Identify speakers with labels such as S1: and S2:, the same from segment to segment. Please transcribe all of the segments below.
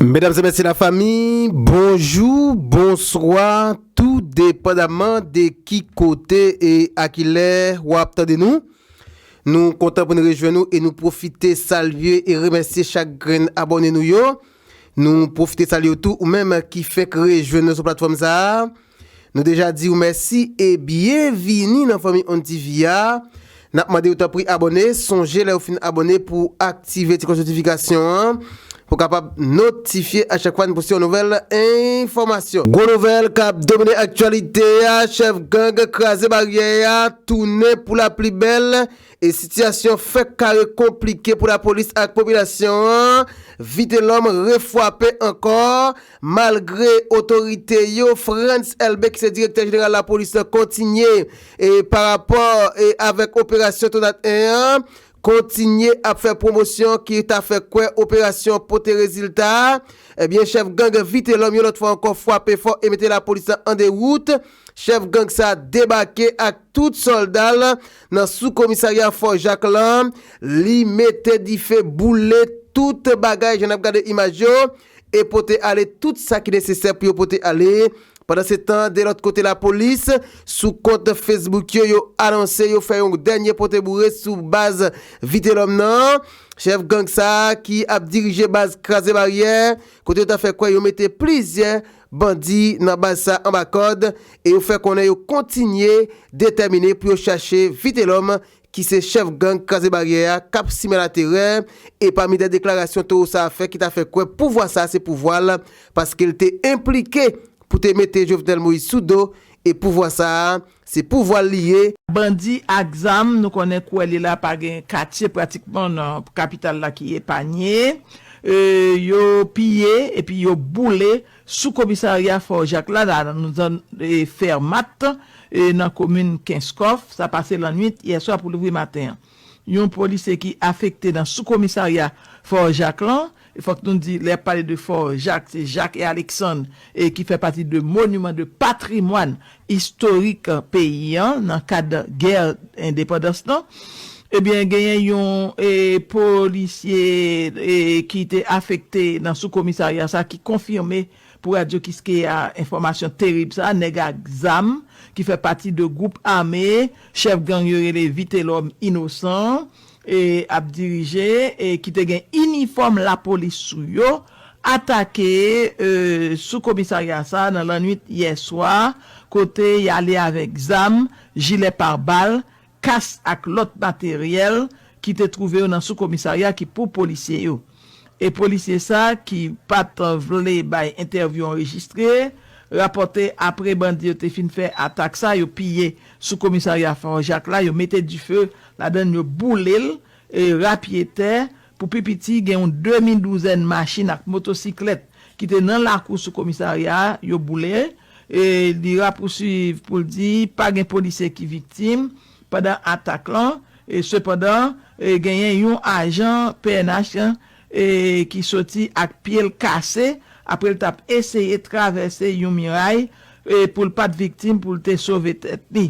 S1: Medam e mesye la fami bonjou bonswa tou depandaman de ki kote e a ki lè wap tande nou Nou kontan pou nou rejwenn nou e nou pwofite salye e remèsye chak grenn abòne nou yo Nou pwofite salye w tou ou menm ki fenk rejwenn nou sou platfòm sa a Nou deja diw mèsi e byen vini nan fanmi on TV a, nap mandew tanpri abòne, sonje lèw fin abòne pou aktive ti klòch notifikasyon an pou kapab notifye a chak fwa n poste yon nouvèl enfòmasyon. Gwo nouvèl kap domine aktyalite a, chèf gang kraze baryè a tounen pou la pli bèl e sitiyasyon fèk kare konplike pou lapolis ak popilasyon an, Vitelòm refwape ankò Malgre otorite yo, Frantz Elbé ki se direktè jeneral lapolis lan kontinye parapò avèk operasyon Tonat 1 an, kontinye ap fè pwomosyon ki ta fè kwè operasyon an pote rezilta, ebyen chèf gang Vitelòm yon lòt fwa ankò fwape fò e mete lapolis lan an dewout, chèf gang sa debake ak tout sòlda l nan sou komisarya Fò Jak lan, li mete dife boule tout bagay jan n ap gade imaj yo. e pote ale tout sa ki nesesè pou yo pote ale. Pandansetan, de lòt kote lapolis, sou kont Facebook yo, yo anonse yo fè yon dènye pote boure sou baz Vitelòm nan. Chèf gang sa a ki ap dirije baz Kraze Baryè, kote yo ta fè kwè yo mete plizyè bandi nan baz sa anba kòd e yo fè konnen yo kontinye detèmine pou yo chache Vitelòm ki se chèf gang Kraze Baryè a k ap simen laterè, e pami dè deklarasyon towo sa a fè ki ta fè kwè pouvwa sa a se pouvwa l, paske l te enplike pou te mete Jovenel Moïse sou do, e pouvwa sa a, se pouvwa l li ye. Bandi ak
S2: zam, nou konnen kouwè li la pa gen katye pratikman nan kapital la ki epanye, yo piye epi yo boule Sou komisarya Fò Jak la nan zòn Fermat nan komin Kenskòf, sa pase lannuit yè swa pou louvri maten an. Yon polisye ki afekte nan sou komisarya Fò Jak lan, e fòk nou di lè y ap pale de Fò Jak se Jak e Aleksann ki fè pati de moniman de patrimwàn istorik peyi an nan kad gè endepandans lan, ebyen genyen yon polisye ki te afekte nan sou komisarya sa ki konfime pou radyo kiskeya enfòmasyon terib sa, nèg ak zam ki fè pati de gwoup ame chèf gang yo rele Vitelòm Inosan ap dirije e ki te gen inifòm lapolis sou yo atake sou komisarya sa nan lannwit yè swa kote y ale avèk zam, jilè parbal, kas ak lòt materyèl ki te twouve yo nan sou komisarya ki pou polisye yo. E polisye sa ki pat vle bay entèvyou anrejistre, rapòte apre bandi yo te fin fè atak sa yo piye sou komisarya Fort Jacques la, yo mete dife ladann yo boule l, rapye tè, pou pi piti gen yon demi douzèn machin ak motosiklèt ki te nan lakou sou komisarya a yo boule. Li rapousuiv pou l di pa gen polisye ki viktim. pandan atak lan, sepandan genyen yon ajan pnh ki soti ak pye l kase apre l t ap eseye travèse yon miray pou l pa t viktim pou l te sove tèt li.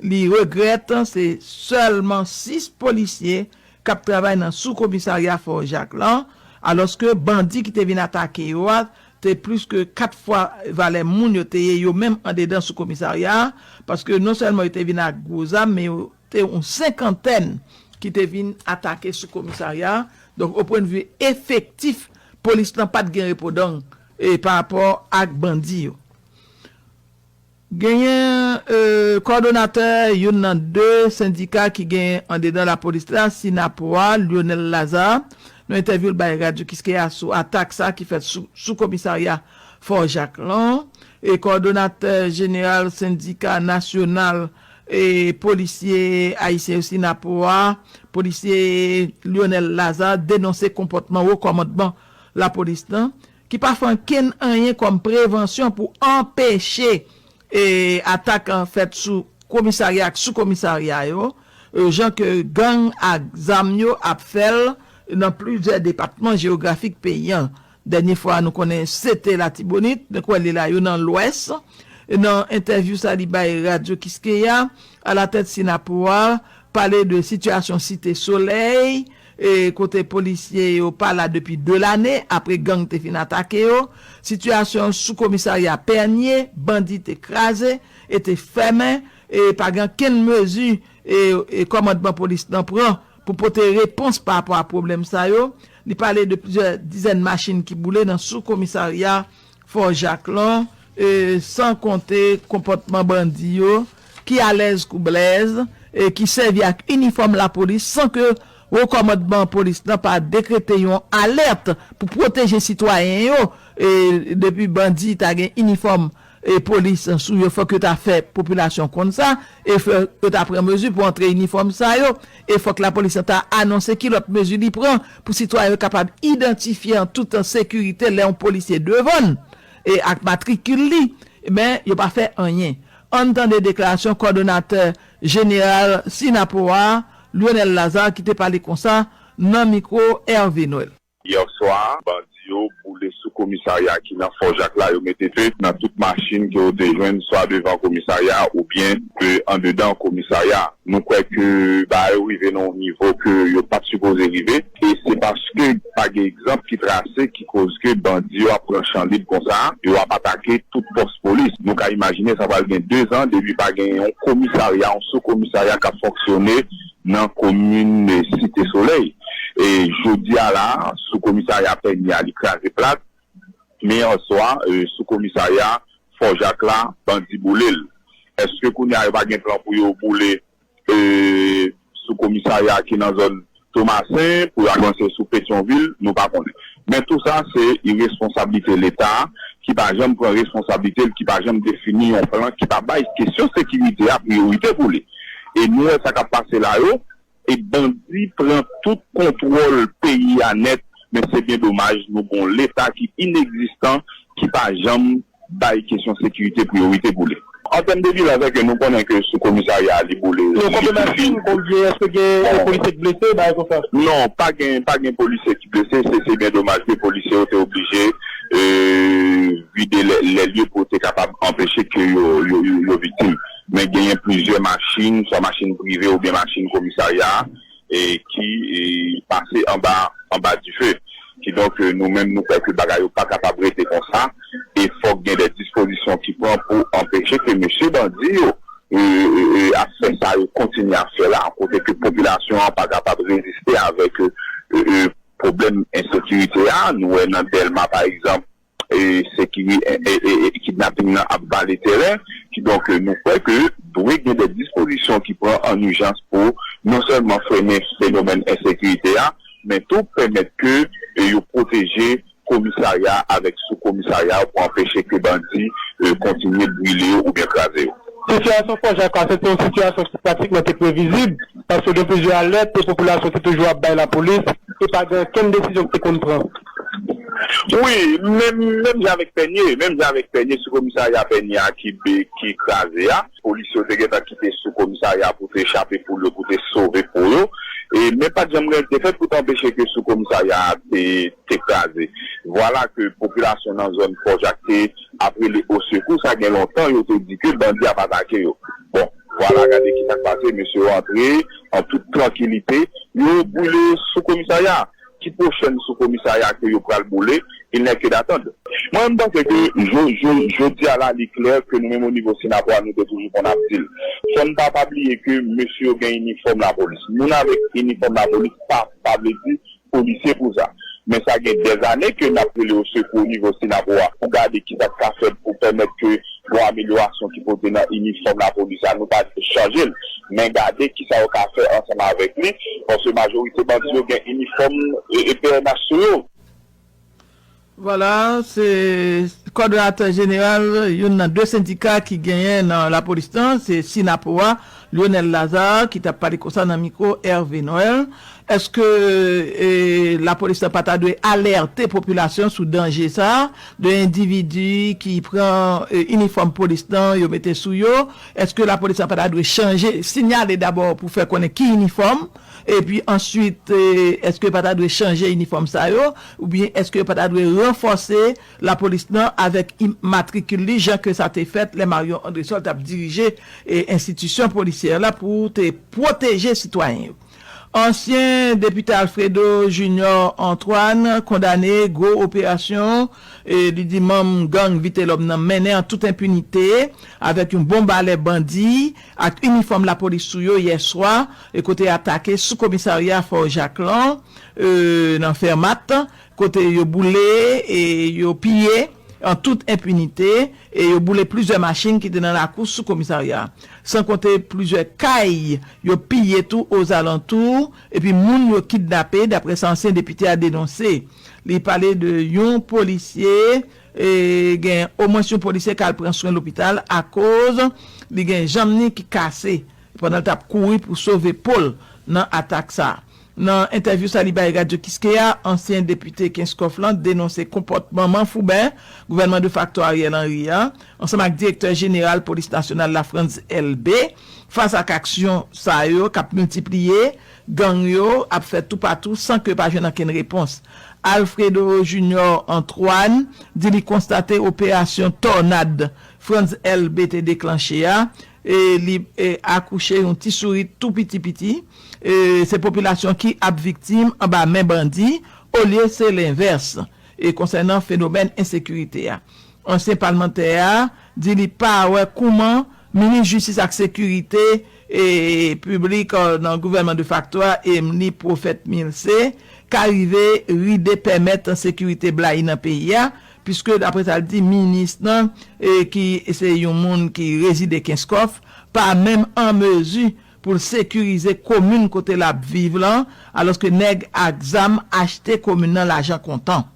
S2: Li regrèt se sèlman 6 polisye k ap travay nan sou komisarya Fò Jak lan, alòske bandi ki te vin atake yo a te plis ke 4 fwa valè moun yo te ye yo menm andedan sou komisarya a, paske non sèlman yo te vin ak gwo zam, men yo te yon senkantèn ki te vin atake sou komisarya a, donk o pwen de vi efektif polis lan pat gen repodang parapò ak bandi yo. Genyen kòdonatè youn nan 2 sendika ki genyen andedan lapolis la, Synapoha, Lyonel Lazarre, nan entèvyou l bay Radyo Kiskeya sou atak sa ki fèt sou komisarya Fò Jak lan. Kòdonatè jeneral sendika nasyonal polisye ayisyen yo, Synapoha, polisye Lyonel Lazarre denonse konpòtman wo kòmandman lapolis lan, ki pa fè ankenn anyen kòm prevansyon pou anpeche atak fèt sou komisarya ak sou komisarya yo, jan ke gang ak zam yo ap fè l nan plizyè depatman jeyografik peyi an. Dènye fwa nou konnen se te Latibonit, men kwè li la yo nan Lwès. Nan entèvyou sa li bay Radyo Kiskeya, alatèt Synapoha pale de sitiyasyon Site Solèy, kote polisye yo pa la depi 2 lane apre gang te fin atake yo, sitiyasyon sou komisarya Pènye, bandi te kraze e te fèmen e pa gen okenn mezi kòmandman polis lan pran pou pote repons pa rapò a pwoblèm sa yo. Li pale de plizyè dizèn machin ki boule nan sou komisarya Fò Jaklò, e san konte konpòtman bandi yo ki alèz kou Blèz e ki sèvi ak inifòm lapolis san ke Wo Kòmandman Polis la pa dekrete yon alèt pou pwoteje sitwayen yo, e depi bandi ta gen inifòm polis sou yo fòk yo ta fè popilasyon konn sa e fòk yo ta pran mezi pou antre inifòm sa yo. e fòk lapolis lan ta anonse ki lòt mezi li pran pou sitwayen yo kapab idantifye an tout sekirite lè yon polisye devan n e ak matrikil li, men yo pa fè anyen. An n tande deklarasyon kòdonatè jeneral Synapoha, Lionel Lazarre ki te pale konsa nan mikwo Hervé Noël. Yè swa,
S3: bandi yo boule sou komisarya ki nan Fò Jak la, yo mete fe nan tout machin ke yo te jwenn swa devan komisarya a oubyen andedan komisarya a. Nou kwè ke bagay yo rive nan yon nivo ke yo pat sipoze rive e se paske pa gen egzanp ki trase ki koz ke bandi yo ap pran chan lib konsa, yo ap atake tout pòs polis. Nou ka imajine sa pral gen 2 zan depi pa gen yon komisarya, yon sou komisarya kap fonksyone nan komin Site Solèy. Jodi a la, sou komisarya Pènye a li kraze plat, men yè swa sou komisarya Fò Jak la bandi boule l. Èske kounye a yo pa gen plan pou yo boule sou komisarya ki nan zòn Tomasen pou yo avanse sou Petyonvil? Nou pa konnen. Men tou sa se iresponsablite Leta ki pa janm pran responsablite l, ki pa janm defini yon plan, ki pa bay kesyon sekirite a priyorite pou li. E nou wè sa kap pase la yo e bandi pran tout kontwòl peyi a nèt men se byen domaj nou gon leta ki inekzistan ki pa janm bay kesyon sekirite priyorite pou li. An tèm de bilan sè ke nou konnen ke sou komisarya a li boule li tou fini. Non konfime si
S4: eske gen polisye ki blese bagay konsa. Non pa gen
S3: pa gen polisye ki blese se se byen domaj ke polisye yo te oblije vide lè lye pou yo te kapab anpeche ke yo yo viktim. Men genyen plizyè machin, swa machin prive oubyen machin komisarya a ki pase anba anba dife. Kidonk nou menm nou kwè ke bagay yo pa kapab rete konsa e fòk gen dè dispozisyon ki pran pou anpeche ke mesye bandi yo ap fè sa yo kontinye ap fè la kote ke popilasyon an pa kapab reziste avèk pwoblèm ensekirite a. Nou wè nan Dèlma pa egzanp Kidnaping nan ap vale tèren, kidonk nou kwè ke dwe gen dè dispozisyon ki pran an ijans pou non sèlman frennen fenomèn ensekirite a, men tou pèmèt ke yo pwoteje komisarya avèk sou komisarya pou anpeche ke bandi kontinye brile yo oubyen kraze yo. Sitiyasyon Fò Jak
S4: la, se te yon sitiyasyon ki pratikman te previzib, paske gen plizyè alèt ke popilasyon te toujou ap bay lapolis, e pa gen okenn desizyon ki te konn pran. Wi,
S3: menm menm jan avèk Pènye, menm jan avèk Pènye sou komisarya Pènye a ki be ki kraze a, polisye yo te gentan kite sou komisarya pou te chape poul yo, pou te sove po yo, e men pat janm gen te fèt pou te anpeche ke sou komisarya a te te kraze. Vwala ke popilasyon nan zòn Fò Jak te ap rele osekou, sa gen lontan yo te di ke bandi ap atake yo. Bon, vwala gade ki sa k pase, mesye yo antre an tout trankilite, yo boule sou komisarya a. Ki pwochèn sou komisarya ke yo pral boule? Il n'est que d'attendre. Mwen menm panse ke jo jo jodi a la li klè ke nou menm o nivo Sinapò a nou te toujou konn ap dil. Fò n pa pa bliye ke mesye yo gen inifòm lapolis. Moun avèk inifòm lapolis pa pa vle di polisye pou sa. Men sa gen dèzane ke n ap rele o sekou o nivo Sinapo a pou gade ki sa k ka fèt pou pèmèt ke Bon amelyorasyon ki pote nan inifòm lapolis la nou pa di pou chanje l men gade kisa yo ka fè ansanm avèk li paske majorite bandi yo gen inifòm pnh sou yo. Vwala,
S2: se kòdonatè jeneral youn nan 2 sendika ki genyen nan lapolis lan, se Synapoha, Lyonel Lazarre ki tap pale konsa nan mikwo Hervé Noël, Eske lapolis la pa ta dwe alète popilasyon sou danje sa de endividi ki pran inifòm polis lan yo mete sou yo, eske lapolis la pa ta dwe chanje, sinyale dabò pou fè konnen ki inifòm, epi answit eske yo pa ta dwe chanje inifòm sa yo, oubyen eske yo pa ta dwe ranfòse Lapolis nan avèk im matrikil li jan ke sa te fèt lè Marion Andrésol t ap dirije enstitisyon polisyè la pou te pwoteje sitwayen yo. Ansyen depite Alfredo Junior Antoine kondane gwo operasyon li di manm gang Vitelòm nan mennen an tout enpinite avèk yon bon balè bandi ak inifòm lapolis sou yo yè swa kote atake sou komisarya Fort Jacques lan nan Fermat kote yo boule e yo piye an tout enpinite e yo boule plizyè machin ki te nan lakou sou komisarya a, san konte plizyè kay yo piye tou ozalantou epi moun yo kidnape, daprè sa ansyen depite a denonse. Li pale de yon polisye, gen omwens yon polisye k al pran swen lopital akoz li gen janm ni ki kase pandan l t ap kouri pou sove po l nan atak sa a. Nan entèvyou sa li bay Radyo Kiskeya, ansyen depite Kenskòf lan denonse konpòtman manfouben gouvènman defakto Ariel Henry a, ansanm ak direktè jeneral polis nasyonal la Frantz Elbé, fas ak aksyon sa yo k ap miltipliye, gang yo ap fèt toupatou san ke pa jwenn ankenn repons. Alfredo Junior Antoine di li konstate operasyon Tònad Frantz Elbé te deklanche a, e li akouche yon ti sourit tou piti piti, e se popilasyon ki ap viktim anba men bandi olye se lenvès. E konsènan fenomèn ensekirite a, ansyen palmantè a di li pa wè kouman minis jistis ak sekirite e piblik nan gouvènman defakto a Emmeline Prophète-Milcé ka rive ride pèmèt sekirite blayi nan peyi a, Piske daprè sa l di, minis lan ki se yon moun ki rezide Kenskòf pa menm an mezi pou l sekirize komin kote l ap viv lan, alòske nèg ak zam achte komin nan lajan kontan.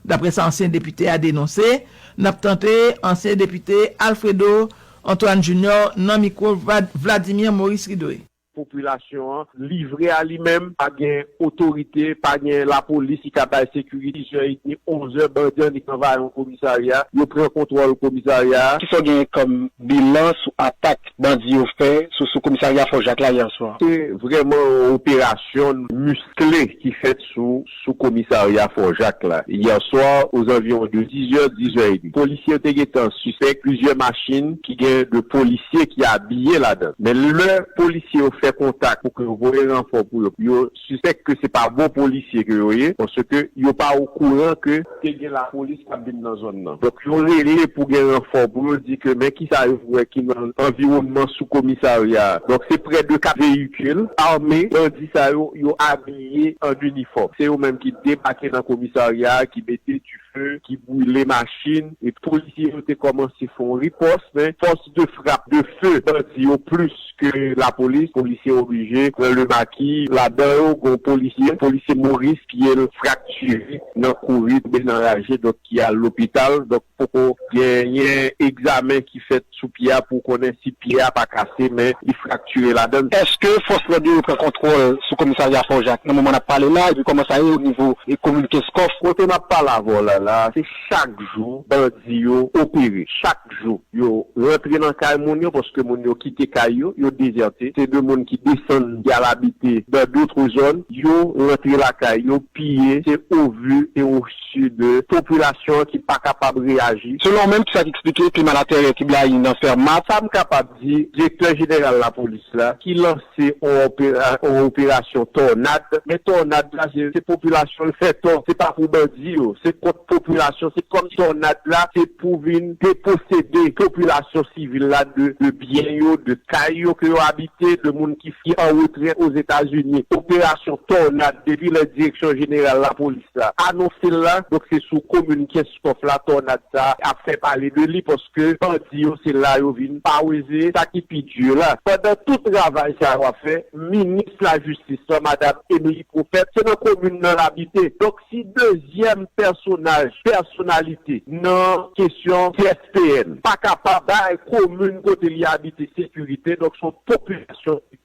S2: Daprè sa ansyen depite a denonse, n ap tande ansyen depite Alfredo Antoine Junior nan mikwo Vladimir Maurice Ridoy. Popilasyon an
S5: livre a li menm, pa gen otorite, pa gen lapolis ki ka bay sekirite. Dix zè edmi, onz zè, bandi an nik anvayi yon komisarya, yo pran kontwòl komisarya a. Kisa w
S4: genyen kòm bilan sou atak bandi yo fè sou sou komisarya Fò Jak la yè swa? Se vrèman yon
S5: operasyon miskle ki fèt. sou sou komisarya Fò Jak la yè swa ozanviwon de 10 zè, 10 zè edmi. Polisye yo te gentan sispèk plizyè machin ki gen 2 polisye ki abiye ladan. Men lè polisye yo fè kontak pou ke yo voye ranfò pou yo, yo sispèk ke se pa bon polisye ke yo ye paske yo pa okouran ke te gen lapolis k ap vin nan zòn nan. Donk yo rele pou gen ranfò pou yo di ke men kisa yo wè ki nan anviwònman sou komisarya a. Donk se prè de 4 veyikil ame bandi sa yo, yo abiye. abiye an inifòm. Se yo menm ki debake nan komisarya a, ki mete dife, ki boule machin. Epi polisye yo te kòmanse fè yon ripòs, men fòs de frap, de feu, bandi yo plis ke lapolis. Polisye oblije pran le maki. Ladan yo gen yon polisye, polisye Moris, pye l fraktire nan kouri, toube nan raje, donk ki al lopital. Donk. Poko genyen egzamen ki fèt sou pye a pou konnen si pye a pa kase men li fraktire ladan l. Eske fòs lòd
S4: yo repran kontwòl sou komisarya Fò Jak nan moman n ap pale la epi kòman sa ye o nivo komin Kenskòf? Kote m ap pale avè
S5: w la la a se chak jou bandi yo opere, chak jou yo rantre nan kay moun yo paske moun yo kite kay yo, yo dezète, se de moun ki desann ki al abite dan dotre zòn, yo rantre lakay yo piye, se o vu e o. si de popilasyon an ki pa kapab reyaji. Selon menm sa k eksplike
S4: klima laterè ki blayi nan Fermat. Sa m kapab di,
S5: direktè jeneral lapolis la ki lanse yon operasyon tònad, men tònad la se popilasyon l fè tò, se pa pou bandi yo, se kont popilasyon, se kòm tònad la se pou vin deposede popilasyon sivil la de byen yo, de kay yo ke yo abite, de moun ki an retrè Ozetazini. Operasyon tònad depi lè direksyon jeneral lapolis. Kès la anonse l la, donk se sou komin Kenskòf la tònad sa a ap fè pale de li paske bandi yo se la yo vin paweze. Sa ki pi di yo la, pandan tout travay sa yo ap fè, minis lajistis lan madam Emmelie Prophète se nan komin nan l abite. Donk si dezyèm pèsonaj, pèsonalite nan kesyon CSPN pa kapab bay komin kote li abite sekirite, donk se yon popilasyon ki.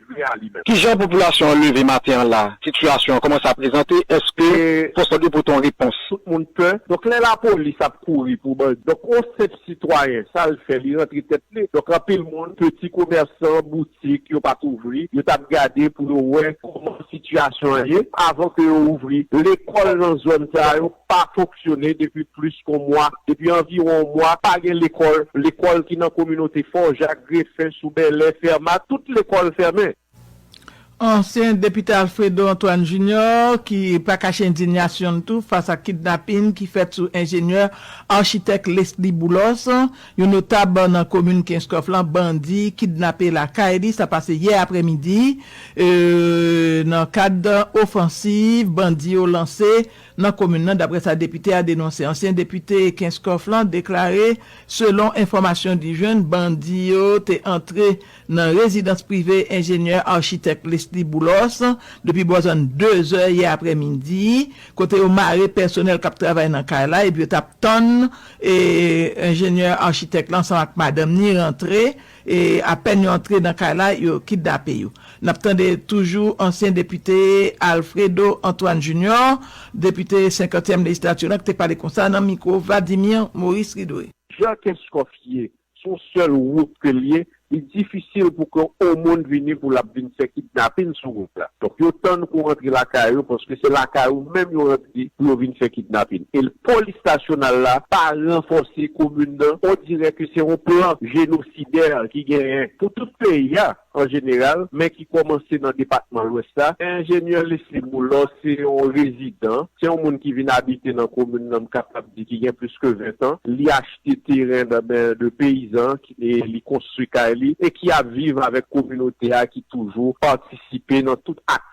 S5: Kijan
S4: popilasyon an leve maten an la, sitiyasyon an kòman sa prezante, èske fòs lòd yo pote yon repons? Tout moun pè, donk
S5: lè lapolis ap kouri pou bandi, donk yon senp sitwayen sa l fè li rantre tèt li, donk anpil moun, peti komèsan, boutik yo pa t ouvri, yo t ap gade pou yo wè kòman sitiyasyon an ye avan ke yo ouvri, lekòl nan zòn sa yo pa fonksyone depi plis kon mwa, depi anviwon yon mwa, pa gen lekòl, lekòl ki nan kominote Fò Jak, Grefen, Sou Bèlè, Fèmat, tout lekòl fèmen. Ansyen
S2: depite Alfredo Antoine Junior ki pa kache endinyasyon n tou fas ak kidnapin ki fèt sou enjenyè Architect Lesly Boulos, yon notab nan komin Kenskòf lan bandi kidnape lakay li, sa pase yè aprè midi nan kad ofansiv bandi yo lanse. nan komin nan, daprè sa depite a denonse. Ansyen depite Kenskòf lan deklare selon enfòmasyon li jwenn, bandi yo te antre nan rezidans prive enjenyè achitèk Lesly Boulos depi bò zòn 2 zè yè aprè midi, kote yo mare pèsonèl k ap travay nan kay la epi yo t ap tann enjenyè achitèk la ansanm ak madanm ni rantre. E apèn yo antre nan kay la yo kidnape yo. N ap tande toujou ansyen depite Alfredo Antoine Junior, depite senkantyèm lejislati lan ki te pale konsa nan mikwo Vladimir Maurice Ridoué. Jan Kenskòf
S5: ye, se yon sèl wout ke l ye, li difisil pou ke yon moun vini pou l ap vin fè kidnapin sou wout la. Donk yo tann ke w antre lakay ou paske se lakay ou menm yo antre pou yo vin fè kidnapin. E l. Polis nasyonal la pa ranfòse komin nan, on dirè ke se on plan jenosidè ki genyen pou tout peyi a an jeneral, men ki kòmanse nan depatman Lwès la. Enjenyè Lesly Boulor se on rezidan, se on moun ki vin abite nan komin nan m kapab di ki gen plis ke 20 tan, li achte teren nan men de peyizan e li konstwi kay li e ki ap viv avèk kominote a ki toujou patisipe nan tout ak.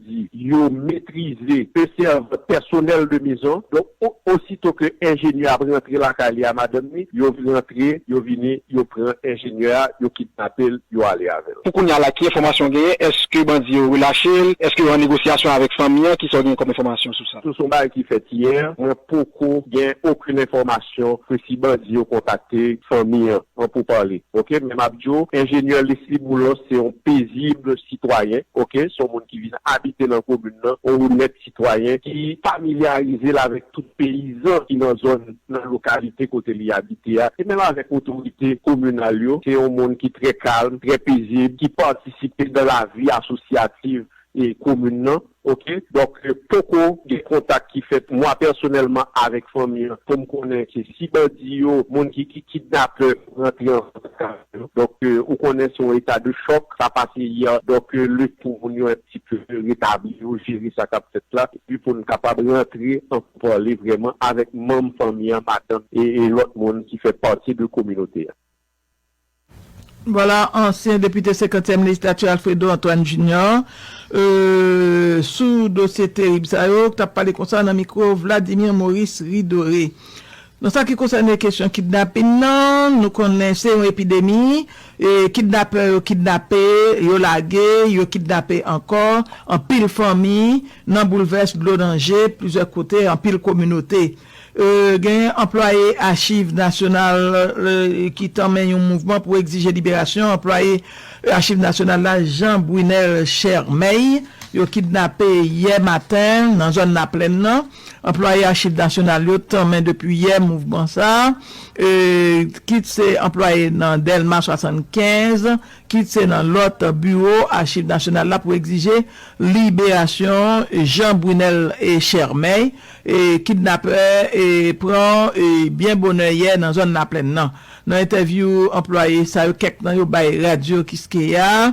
S5: di yo metrize e sèvant pèsonèl de mezon, donk osito ke enjenyè ap rantre lakay li a madanm ni, yo rantre, yo vini, yo pran enjenyè a, yo kidnape l, yo ale avè l. Pou kounya la ki enfòmasyon
S4: w genyen, èske bandi yo relache l, èske yo an negosyasyon avèk fanmi an, kisa w genyen kòm enfòmasyon sou sa? Sou son bagay ki fèt yè,
S5: mwen poko gen okenn enfòmasyon ke si bandi yo kontakte fanmi an. Mwen pou pale ok men map di w enjenyè Lesly Boulos se yon pezib sitwayen ok se yon moun ki vin abite nan komin nan yon onèt sitwayen ki familyarize l avèk tout peyizan ki nan zòn nan lokalite kote li abite a e menm avèk otorite kominal yo se yon moun ki trè kalm trè pezib ki patisipe nan lavi asosyativ komin nan ok donk poko gen kontak ki fèt mwa pèsonèlman avèk fanmi an poum konnen ke si bandi yo moun ki ki kidnapè rantre an kontak avèk yo donk ou konnen se yon eta de chòk sa pase yè donk le pou moun yo un ti peu retabli yo jere sa kap fèt la epi poun kapab rantre an pou pale vrèman avèk manm fanmi an madanm e lòt moun ki fè pati de kominote a.
S2: Vwala ansyen depite senkantyèm lejislati Alfredo Antoine Junior sou dosye terib sa yo k t ap pale konsa nan mikwo Vladimir Maurice Ridore. Nan sa ki konsène kesyon kidnapin nan, nou konnen se yon epidemi, kidnapè yo kidnape, yo lage, yo kidnape ankò, anpil fanmi nan boulvès, dlo nan je, plizyè kote, anpil kominote. Genyen anplwaye Achiv Nasyonal ki tanmen yon mouvman pou egzije liberasyon anplwaye Achiv Nasyonal la Jean Brunel Chermais yo kidnape yè maten nan zòn Laplèn nan. Anplwaye Achiv Nasyonal yo tanmen depi yè mouvman sa kit se anplwaye nan Dèlma 75 kit se nan lòt biwo Achiv Nasyonal la pou egzije liberasyon Jean Brunel Chermais. Kidnapè pran byen bonè yè nan zòn Laplèn nan. Nan entèvyou anplwaye sa yo kèk nan yo bay radyo Kiskeya.